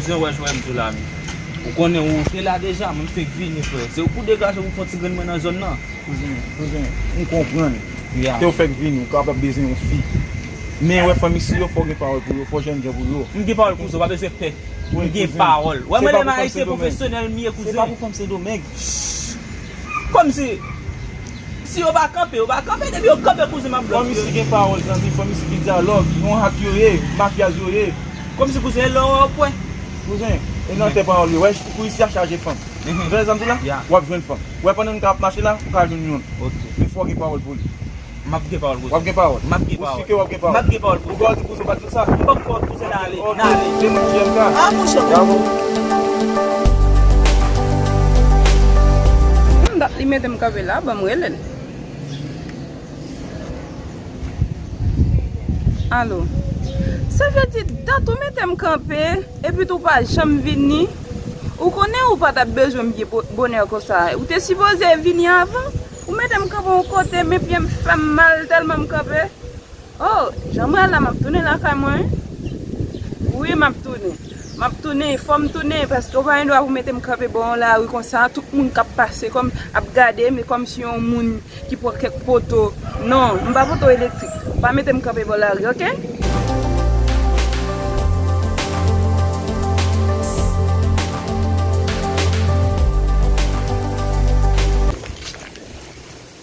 Bouzen wè jwè mzou la menm. Ou konnen ou te la deja mwen fenk vini frè. Se ou pou degaje pou fon ti grenn mwen nan zòn nan. Bouzen, bouzen, m konprann. Tew fèk vini, ou kapab bezwen yon fi. Men wè fanm isi yo fòw gen pawòl pou yo, fòw jènjan pou yo. M gen pawòl pou mzou, pa bezwen pè. M gen pawòl. Wè mwen lè m ayisyen pwofesyonèl m ye kouzen. Se pa pou fanm sendomeng. Shh! Kòmsi. Si yo pa kanpe, yo pa kanpe, depi yo kanpe kouzen map blòk yo. Fòm isi gen pawòl zanmi, fòm isi gen dyalòg, yon hak yo ye, mafyaz yo ye. Kòm si kouzen elò wè ou pwè. Kouzen, e nan tè pawòl yo, wè kou isi a chaje fanm. Ou tande sam di la? Wap jwenn fanm. Wè pandan nou ta ap mache la, ou ka jwenn youn. Men fò gen pawòl pou li. Map gen pawòl kouzen. Wap gen pawòl? Map gen pawòl. Ou si ke wap gen pawòl? Map gen pawòl kouzen. Ou pa wè di kouzen ou pa. Sot, m poko tou se nale, nale. Se pou jèm ka. A mouche pou m tou. Humm dat li metem kanpe la banm relel. Allo. Sa vle di dat ou metem kanpe epi tou pa janm vini. Ou konnen ou pa tap bezwen m byen bonè konsa. Ou te sipoze vini avan. Ou metem kanpe yon kote men pyem fem mal telman m kanpe. Oh jan mwen al la map tounen lakay mwen wi Wi map tounen Map tounen fòm tounen paske ou pa gen dwa pou metem kanpe bò yon lari konsa tout moun kap pase kòm ap gadem e kòmsi yon moun ki pran kèk poto non m pa poto elektrik pa metem kanpe bò lari ok.